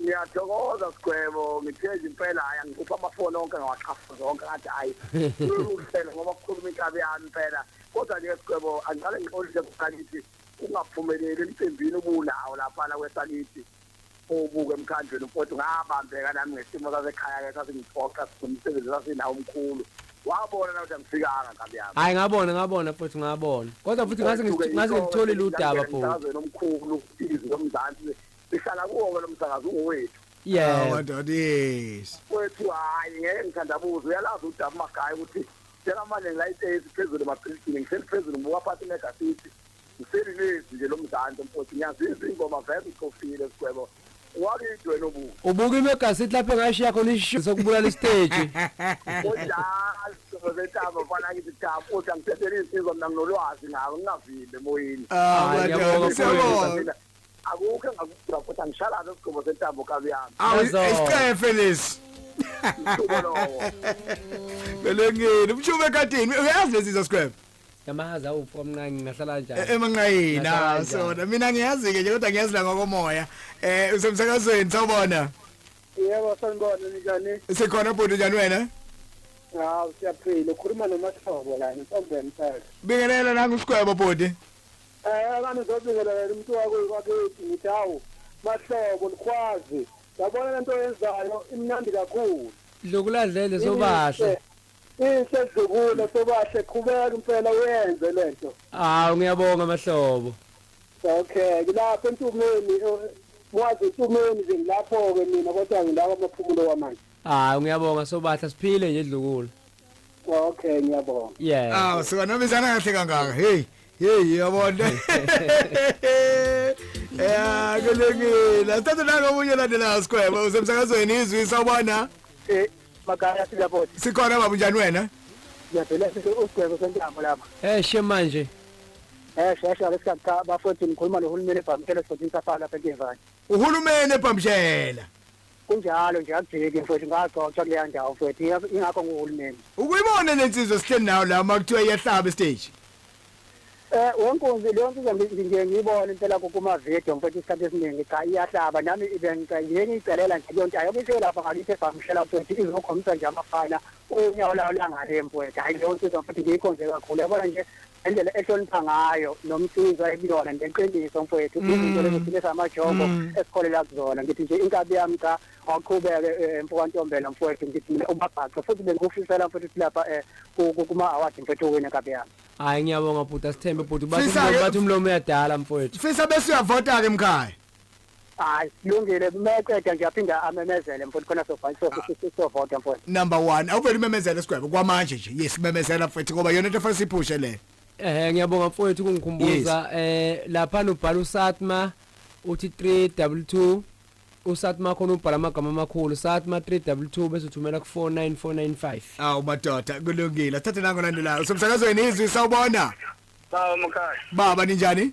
Ngiyathokoza Sigwebo, ngithezi impela hhayi angikhupha amafoni onke ngawaxhafa zonke ngathi hhayi uhlelo ngoba kukhuluma inkabi yami impela kodwa nje Sigwebo angiqale ngixolise kusakithi kungaphumeleli emcimbini ubunawo laphana kwesakithi ubuke emkhandlweni mfowethu ngabambeka nami ngesimo sasekhaya-ke sasingiphoxa nomsebenzi sasinawo omkhulu wabona na ukuthi angifikanga nkabi yami hayi ngabona ngabona futhi ngabona kodwa futhi ngase ngitholile udaba futhi omkhulu izwe lomzansi Sihlala kuwo lo msakazo ungowethu. Yeah. Oh, madoda yes. Wethu hayi ngeke ngithandabuze uyalazi udaba magaya ukuthi Tshela manje ngilayitezi phezulu emabhilidini ngihleli phezulu ngibuka phansi negasithi ngihleli lezi nje lo mzansi mfowethu ngiyazizwa ingoma vele iqofile sigwebo wakithi wena obuka ubuka imegasithi lapho engashiya khona isisho sokubulala isiteji zetama mfana kithi tama futhi angithethele insizwa mina nginolwazi ngako ngingavimbe emoyini ah, ah, akukho engakudwa futhi angishalaze isigqumo sentambo kabi yami awu Yazo. isicefe lesi Mhluko lowo belengeni umshuba ekadini uyazi lezi zinto square Yamazi awufu kamncane ngahlala E- kanjani? emanqayini Ngahlala ah, kanjani? sona mina ngiyazi-ke nje kodwa ngiyazi la ngokomoya um usemsakazweni sawubona yebo sanibona ninjani sikhona bhuti njani wena hawu siyaphila ukhuluma nomasihlobo la ngisombeni phela bingelela nangu usigwebo bhuti Eh akani ngizobingelela yena umuntu wako wakithi ngithi hawu mahlobo likhwazi yabona lento yenzayo imnandi kakhulu Dlukuladlele sobahle. Inhle dlukule sobahle qhubeka impela uyenze lento. Hawu ngiyabonga mahlobo. Okay ngilapha entumeni mwazi entumeni nje ngilapho ke mina kodwa ngilapha amaphumulo wamanje. Hayi ngiyabonga sobahle siphile nje dlukule. okay ngiyabonga yeah aw sikanobizana kahle kangaka hey hey yabona ya kulungile asithathe nako omunye olandelayo sikhweba usemsakazweni izwi sawubona eh makaya siyabona sikhona baba unjani wena ngiyavela usigwebo sentambo lapha eh she manje eh shesha lesikhathi cha bafowethu ngikhuluma nohulumeni ebhamshela esigodini safala lapha enkevane uhulumeni ebhamshela Kunjalo nje akujiki mfowethu ngaxoxa kuleya ndawo mfowethu ingakho nguhulumeni. Ukuyibona le nsizwa sihleli nayo la uma kuthiwa iyahlaba estage. Eh wenkunzi leyo nsizwa nje ngiyibona impela kuma video mfowethu isikhathi esiningi cha iyahlaba nami ibengicela ngiyicelela nje leyo nto ayokisho lapha ngakithi ebhamshela mfowethu izokhombisa nje amafana unyawo layo langale mfowethu hayi leyo nsizwa mfowethu ngiyikhonze kakhulu yabona nje indlela ehlonipha ngayo nomsizwa ekuyona ngeqiniso mfowethu mm. izinto lezi thina samajongo mm. esikholela kuzona ngithi nje inkabi yami cha awuqhubeke eh, mfokantombela mfowethu ngithi mina ubabhaxe futhi bengikufisela mfowethu ukuthi lapha eh, kuma-awadi mfowethu uwine inkabi yami hayi ngiyabonga bhuti asithembe bhuti bathi umlomo uyadala mfowethu fisa bese uyavota-ke mkhaya hayi lungile kumeceda nje aphinda amemezele mfowethu khona sovota mfowethu number 1 awuvele umemezele isigwebo kwamanje nje yes memezela mfowethu ngoba yona into efanele siphushe le eh ngiyabonga mfowethu kungikhumbuza eh lapha nobhala usatma uthi 322 usatma khona ubhala amagama amakhulu satma 322 bese uthumela ku 49495 awu madoda kulungile thathe nango landelayo somsakazweni izwi sawubona Sawa mkhaya. Baba ninjani?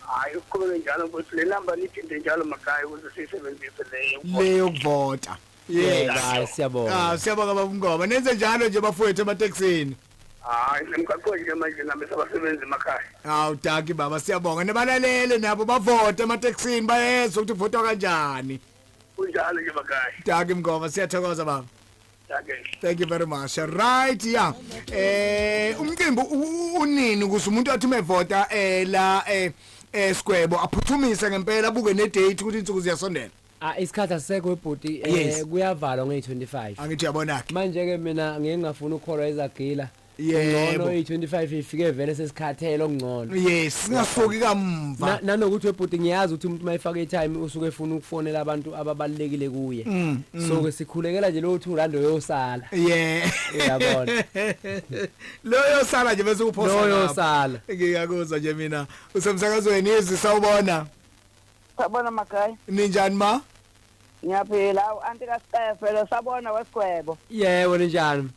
Hayi uqhubeke njalo mfowethu le number niphinde njalo makhaya ukuze siyisebenzise leyo. Le yokuvota. Yes. Hayi siyabonga. Ah siyabonga baba Mngoma. Nenze njalo nje bafowethu emateksini. Hayi nemgaqweni ke manje nami sabasebenzi emakhaya. Hawu daki baba siyabonga nebalalele nabo bavote emateksini bayezwa ukuthi votwa kanjani. Kunjalo nje makhaya. Daki Mngoma siyathokoza baba. thank you very much right yeah eh umcimbi unini ukuze umuntu athi umevota eh la eh esigwebo eh, aphuthumise ngempela abuke ne date ukuthi insuku ziyasondela Ah isikhathi asisekho ebhuti eh kuyavalwa nge25. Angithi yabona ke. Manje ke mina ngeke ngafuna ukukholwa ezagila. yebo oyi 25 ifike vele sesikhathele okungcono yes singasoki kamva nanokuthi webhuti ngiyazi ukuthi umuntu mayifaka itime usuke efuna ukufonela abantu ababalekile kuye mm, mm. so ke sikhulekela nje lo 2 rand oyosala yeah uyabona lo yosala nje bese uphosa lo yosala ngiyakuzwa nje mina usemsakazweni izi sawubona sabona makhaya ninjani ma ngiyaphila anti ka Stefelo sabona wesigwebo yebo ninjani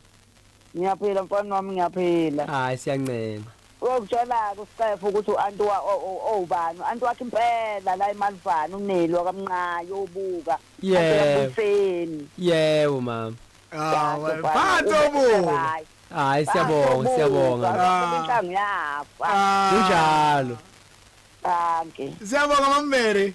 ngiyaphila mfana wami ngiyaphila hayi siyancema Uyokutshela-ke uScefe ukuthi u-anti owubani. U-anti wakhe impela la eMalivane uneli wakamnqayi obuka. Yebo. Yebo mama. Hawu, phansi obuka. Hayi siyabonga, siyabonga. Inhlango yafa. Kunjalo. Danke. Siyabonga Mama Mary.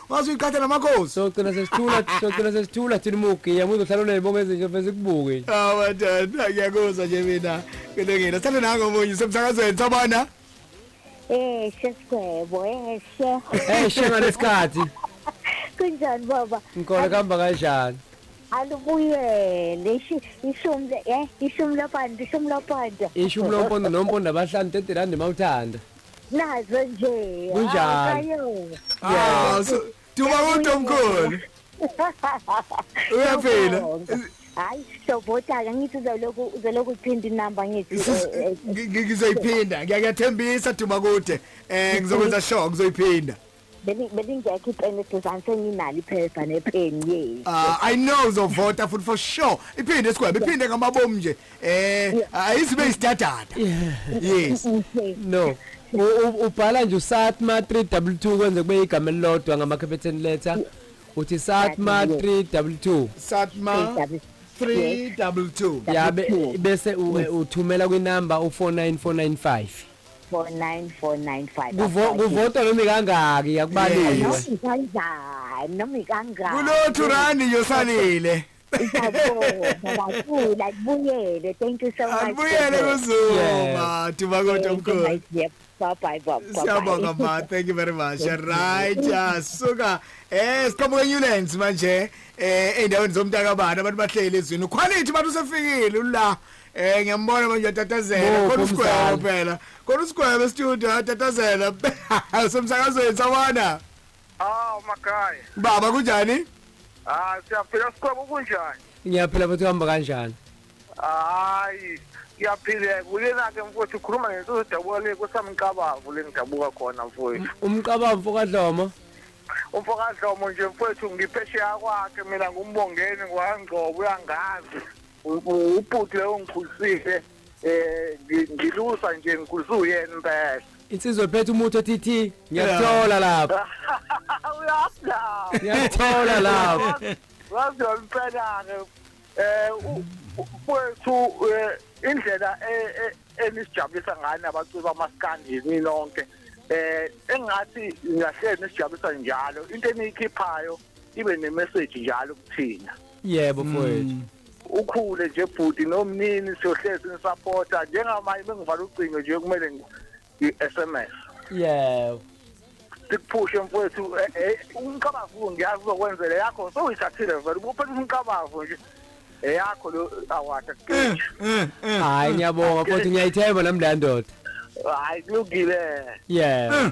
waze uyiqhatha namakhosi socela sesithula socela sesithula thina umugi yamuzo hlala unezibongo ezinje vese ikubuke nje awa dada ngiyakuzwa nje mina kulungile sithanda nango omunye semsakazweni sabona Eh, sesigwebo, eh, she. hey shema lesikhathi Kunjani baba? ngikole kuhamba kanjani Alubuyele. Ishi ishumi le- eh, ishumi lopanda, ishumi lopanda. ishumi lompondo nompondo abahlanu 30 rand mawuthanda nazo nje Kunjani? Ah, so- Duma kodwa mkhulu. Uyaphila. hayi sobotaka ngithi uzoloku uzoloku uthinta inamba ngithi Sis- eh, eh, ngi- ngi- Ngizoyiphinda. Ngiyakuyathembisa Duma kude. Eh ngizokwenza sure ngizoyiphinda. Beli- belingekho ipeni eduzane senginalo iphepha nepeni ye Ah, I know uzovota futhi for sure. Iphinde esigwebo, iphinde ngamabomu nje. Eh, ayizibe isidadada. Yes. no U- u- ubhala nje usatma 322 kwenze kube igama elilodwa ngamakhephethen letter uthi satma 322 Satma 322. yabe bese u- uthumela kwinamba u 49495 Kuvo- 4945 kuvotwa noma ikangaki yakubaliwe Yes. kanjani noma ikangani Kulothu randi nje osalile. ngiyabonga kubuyele thank you so much Akubuyele kuzuma. Thuba kodwa mkhulu. Siyabonga ma, thank you very much. Right, yeah, suka. Eh, siqhamuke Newlands manje. Eh, endaweni zomntaka bani abantu bahleli ezwini. Quality bantu sefikile la. Eh ngiyambona manje uyatatazela Bo, kodwa usigwebo kumzala. phela. Kodwa usigwebo estudio uyatatazela. Somsakazweni sawona. Aw makhaya. Baba kunjani? Ah siyaphila sikhona kunjani? ngiyaphila futhi uhamba kanjani Hayi. Siyaphileka uyena ke mfowethu ukhuluma ngento edabuka le kosamqabavu lengidabuka khona mfowethu. umqaba mfokadlomo Umfokadlomo nje mfowethu ngiphesheya kwakhe mina ngumbongeni ngwangcobo uyangazi. ubhuti lowo ngikhulisile eh ngilusa nje ngikhuliswe uyena impela insizwa ephethe umuthi othi thi ngiyakuthola lapho uyapha ngiyakuthola lapho wazi yomfenake eh mfowethu eh, indlela e, e, enisijabulisa ngayo nabaculi bamaskandi yini nonke eh engathi ngahlele nisijabulisa njalo into eniyikhiphayo ibe nemessage njalo kuthina yebo mfowethu mm. ukhule nje bhuti nomnini siyohlezi nisupporta njengamanje bengivala ucingo nje kumele ngi-sms yebo sikuphushe mfowethu eh, eh, umqabavu ngiyazi uzokwenzela yakho sowuyithathile vele ubuphethe umqabavu nje eyakho lo award eh, hayi ngiyabonga futhi ngiyayithemba nami leya ndoda hayi kulungile yeah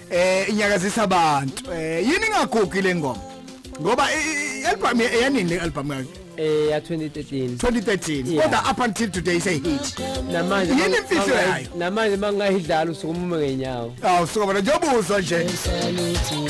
eh inyakazisa abantu eh yini ingagugi le ngoma ngoba i-album eyanini le album yakhe eh ya 2013 2013 Yeah. kodwa up until today say hit namanje Yini imfihlo yayo? namanje mangayidlala usuku umume ngenyawo awu suka bona njengoba uzwa nje Saluthi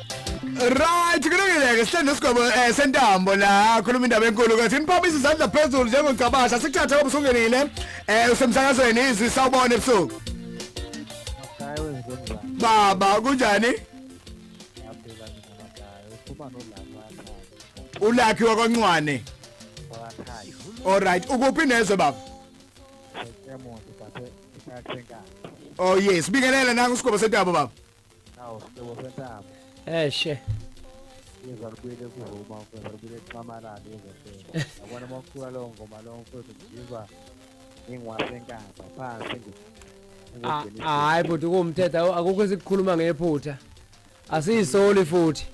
Right, kulungile-ke sihleli nesigwebo um eh, sentambo la khuluma indaba enkulu kathi niphaphisa izandla phezulu njengocabasha sikuthathe kobe usungenile um eh, usemsakazweni izwi sawubona ebusuku baba kunjani ulakhi wakwancwane alright ukuphi nezwe baba oh yes bingelela nangu isigwebo sentambo baba Awu, sihlobo sentaba. Eh she. Yeza libuyele kuvuma, yeza libuyele kuxamalala, yeza phela. Yabona uma ucula leyo ngoma leyo mfowethu ngizizwa ngingiwasenkaba phansi ngi- Ah, ngingogcina ah, Hayi bhuti kuwumthetho awu- akukho esikukhuluma ngephutha. Asiyisoli futhi.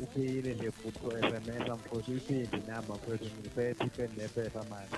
Uphile nje futhi ko-SMS mfowethu, uyiphinde inamba mfowethu, ngiphethe ipheni nepepha manje.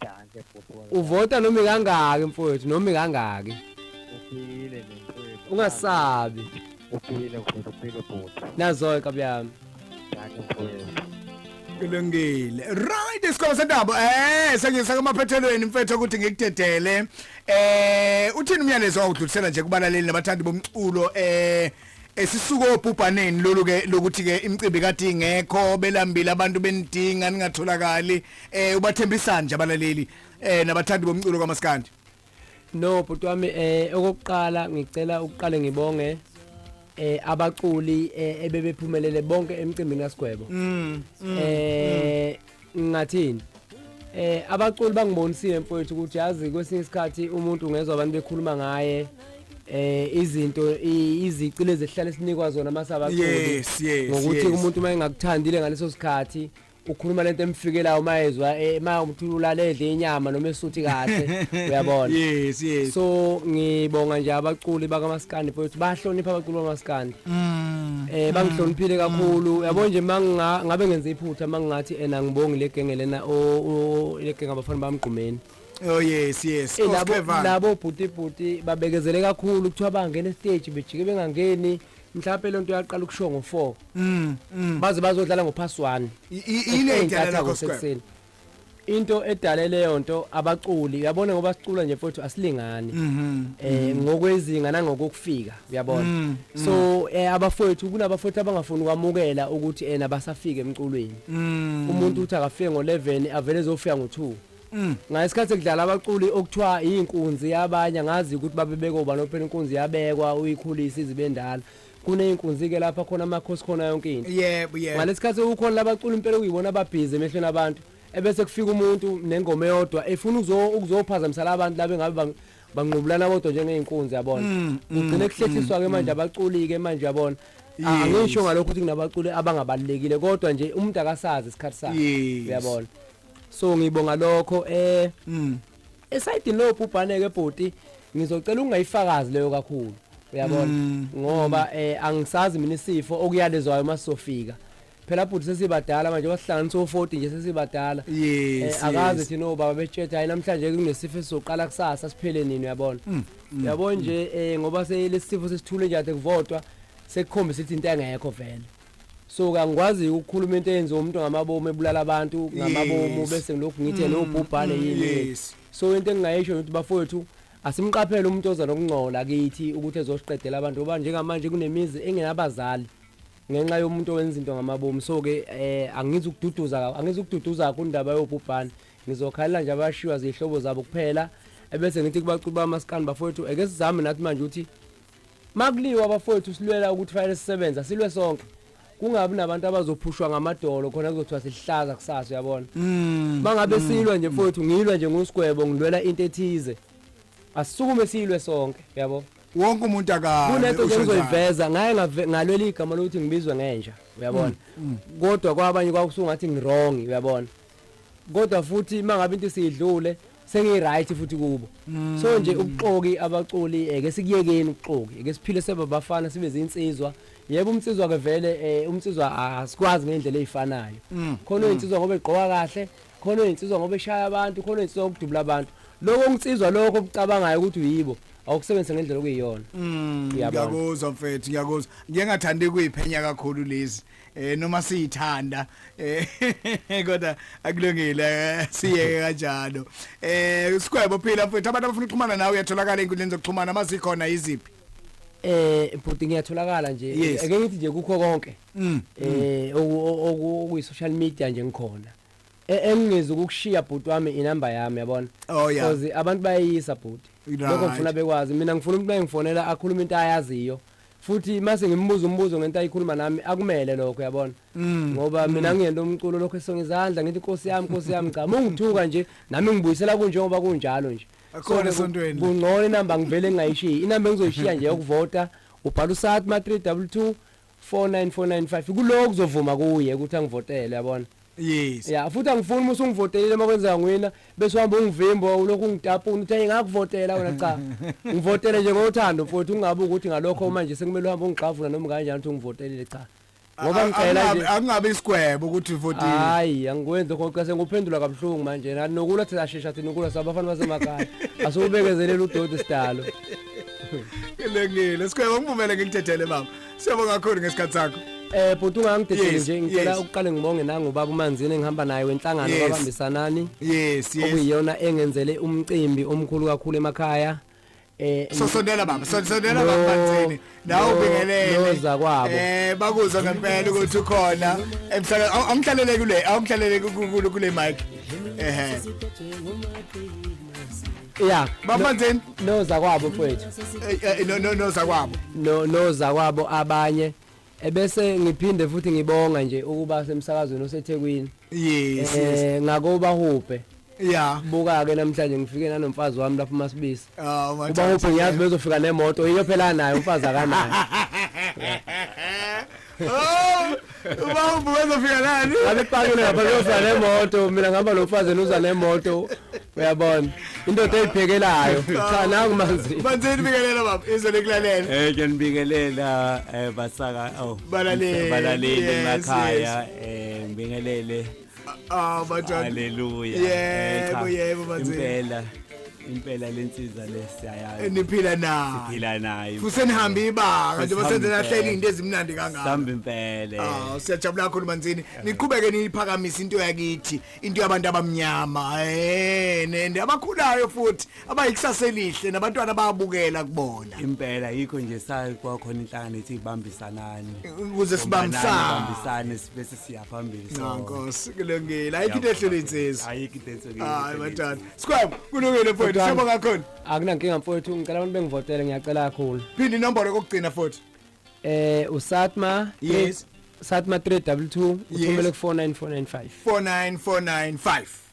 Danke bhuti wami. uvota noma ikangaki mfowethu noma ikangaki Uphile nje mfowethu. ungasabi Uphile mfowethu uphile bhuti. nazoke kabi yami Danke mfowethu. kulungile right isikholo sentaba eh sengisa kumaphethelweni mfethu ukuthi ngikudedele eh uthini umyalezo awudlulisela nje kubalaleli nabathandi bomculo eh esisuka obhubhaneni lolu ke lokuthi ke imicimbi kade ingekho belambile abantu benidinga ningatholakali eh ubathembisani nje abalaleli eh nabathandi bomculo kamaskandi no bhuti wami eh okokuqala ngicela ukuqale ngibonge eh abaculi eh, ebebephumelele bonke emcimbini kaSigwebo mm, mm, eh mm. ngingathini eh abaculi bangibonisile mfowethu ukuthi yazi kwesinye isikhathi umuntu ungezwa abantu bekhuluma ngaye eh izinto izici lezi ehlala sinikwa zona masabaculi yes, yes, ngokuthi yes. umuntu uma engakuthandile ngaleso sikhathi ukhuluma lento emfikelayo uma ezwa eh, uma umthula ulaledle inyama noma esuthi kahle uyabona yes yes so ngibonga nje abaculi bakamaskandi futhi bahlonipha abaculi bamaskandi Mm. Eh bangihloniphile mm. kakhulu. Mm. Yabo nje manginga ngabe ngenza iphutha mangingathi ena ngibongi legenge lena o legenge abafana bamgqumeni. Oh yes yes. Eh, labo labo bhuti bhuti babekezele kakhulu kuthiwa bangena stage bejike bengangeni. mhlawumbe lento yaqala ukusho ngo4 mm, mm. baze bazodlala ngo pass 1 ile idala lakho sekuseni into edale leyo nto abaculi uyabona ngoba sicula nje mfowethu asilingani mhm. eh mhm. ngokwezinga nangokufika uyabona mm, mm. so eh, abafowethu kunabafowethu abangafuni ukwamukela ukuthi ena basafike emculweni mm. umuntu uthi akafike ngo11 avele ezofika ngo2 ngasikhathi kudlala abaculi okuthiwa inkunzi yabanye ngazi ukuthi babebeko banophela inkunzi yabekwa uyikhulisa izibendala kuney'nkunzi ke lapha khona amakhosi khona yonke into yebo yebo ngalesi khathi kukhona labacula impela okuyibona ababhizi emehlweni abantu ebese kufika umuntu nengoma eyodwa efuna ukuzo- ukuzophazamisa la bantu labe ngabe bang- banqubulana bodwa njengey'nkunzi yabona Mm, mm, kugcine kuhlethiswa-ke manje abaculi-ke manje yabona A- Yes. angisho ngalokho ukuthi kunabaculi abangabalulekile kodwa nje umuntu akasazi isikhathi sakhe Yes. uyabona so ngibonga lokho eh Mm. esayidini lo bhubhane ke bhoti ngizocela ungayifakazi leyo kakhulu uyabona mm. ngoba mm. eh angisazi mina isifo okuyalezwayo masizofika phela bhuti sesibadala manje wasihlanganisa o40 nje sesibadala yes eh, akazi thina obaba betsheta hayi namhlanje kunesifo esizoqala kusasa siphele nini uyabona mm, mm, uyabona mm. nje eh ngoba selesifo sesithule nje ade kuvotwa sekukhombisa ukuthi into engekho vele so kangikwazi ukukhuluma into eyenziwa umuntu ngamabomu ebulala abantu ngamabomu bese ngilokhu ngithe mm, nobhubhane mm, yini so into engingayisho ukuthi bafowethu asimqaphele umuntu oza nokungcola kithi ukuthi ezosiqedela abantu ngoba njengamanje kunemizi engenabazali ngenxa yomuntu owenza into ngamabomu so-ke um eh, angizi ukududuza angizi ukududuza kakho indaba yobhubhane ngizokhalela nje abashiywa ziyihlobo zabo kuphela ebese ngithi kubacuba amasikani bafowethu eke sizame nathi manje ukuthi Makuliwa abafowethu silwela ukuthi fanele sisebenze asilwe sonke kungabi nabantu abazophushwa ngamadolo khona kuzothiwa sihlaza kusasa uyabona mm. mangabe mm. silwa nje mfowethu ngilwa nje ngosigwebo ngilwela into ethize asisukume silwe sonke uyabo wonke umuntu akakunento nje ngizoyiveza ngaye ngalwela igama lokuthi ngibizwe ngenja uyabona mm, kodwa kwabanye kwakusungathi ngirong uyabona kodwa futhi mangabe into siyidlule sengiyiright futhi kubo mm. so nje ubuxoki abaculi eh, ke sikuyekeni ubuxoki ke siphile seba bafana sibe zinsizwa yebo umsizwa ke vele eh, umsizwa asikwazi ngendlela ezifanayo mm. khona mm. insizwa ngoba egqoka kahle khona insizwa ngoba eshaya abantu khona insizwa ukudubula abantu lokho ungitsizwa lokho obucabangayo ukuthi uyibo awukusebenzisa ngendlela okuyiyona ngiyakuzwa mfethu ngiyakuzwa ngiyengathandi kuyiphenya kakhulu lezi eh noma siyithanda eh kodwa akulungile eh, siyeke kanjalo eh sikwebo phila mfethu abantu abafuna ukuxhumana nawe uyatholakala enkundleni zokuxhumana mazikhona iziphi eh bhuti ngiyatholakala nje Yes. ake ngithi nje kukho konke Mm, eh oku- oku- okuyi social media nje ngikhona E- engingezi ukukushiya bhuti wami inamba yami yabona Oh, yeah. Cause abantu bayeyisa bhuti Right. lokho ngifuna bekwazi mina ngifuna umuntu mayengifonela akhulume into ayaziyo futhi mase ngimbuza umbuzo ngento ayikhuluma nami akumele lokho uyabona mm. ngoba mm. mina ngiyento umculo lokho esonga izandla ngithi inkosi yami inkosi yami cha mungithuka nje nami ngibuyisela kunjengoba kunjalo nje akhona esontweni kungcono inamba ngivele ngingayishiyi inamba engizoyishiya nje yokuvota ubhala usat ma 322 49495 kuloku kuzovuma kuye ukuthi angivotele yabona yes ya futhi angifuni uma usungivotelile uma kwenzeka ngwina bese uhamba ungivimba ulokhu ungitapuna uthi ngingakuvotela wena cha ngivotele nje ngothando mfowethu ungabe ukuthi ngalokho uma nje sekumele uhambe ungixavula noma kanjani uthi ungivotelile cha ngoba ngicela nje angabe isigwebo ukuthi uvotile hayi angikwenzi lokho xa senguphendula kabuhlungu manje nathi nokula thina shesha thina ukula sabafana basemakhaya asukubekezelela udoti sidalo ngilengile sigwebo ngivumele ngikuthethele baba Siyabonga kakhulu ngesikhathi sakho. Eh bhuti ungangidedeli Yes, nje ngicela yes. ukuqale ngibonge nangu ubaba uManzini engihamba naye wenhlangano Yes. babambisanani Yes, yes. okuyiyona engenzele umcimbi omkhulu kakhulu emakhaya. Eh So sondela baba, so- sondela baba No, Manzini. Nawe no, ubingelele. noza kwabo. Eh bakuzwa ngempela ukuthi ukhona. Emhlale awumhlalele kule, awumhlalele kule mic. Ehhe. Yeah. Bamanzeni no zakwabo mfethu. Eh, eh, no no no zakwabo. No no zakwabo abanye. Ebese ngiphinde futhi ngibonga nje ukuba semsakazweni oseThekwini. Yes. Eh ngakuba huphe. Yeah. Buka ke namhlanje ngifike nanomfazi wami lapha uMasibisi. Ah, oh, uba huphe ngiyazi bezofika nemoto iyo phela nayo umfazi akanayo. Uma ubuka uzofika nani? Alipakile lapha kuyoza nemoto, mina ngihamba nomfazi uza nemoto. Uyabona? Indoda eyiphekelayo. Cha nangu manzi. Manzini bikelela baba, izwe lekulalela. Eh ngiyanibingelela eh basaka oh. Balaleli. Balaleli Yes, emakhaya eh ngibingelele Ah batshana. Haleluya. Yebo Echa. yebo bathi. Impela impela lensiza lesiyayazi. Niphila nayo. Siphila nayo. Futhi nihambe ibanga nje basenze nahleli into ezimnandi kangaka. Sihamba impela. Ah siyajabula kakhulu manzini. Niqhubeke niyiphakamise into yakithi, into yabantu abamnyama. Eh nende abakhulayo futhi abayikusasa elihle nabantwana bayabukela kubona impela yikho nje sayi kwakhona inhlangano ethi ibambisanani ukuze sibambisane sibese siya phambili nkosi kulungile ayikho into ehlele insizwa ayikho into ehlele hayi batata sikwam kulungile mfowethu shebo ngakhona akunankinga mfowethu ngicela abantu bengivotele ngiyacela kakhulu phinde inombolo kokugcina futhi eh usatma yes satma 322 uthumele ku 4945 49495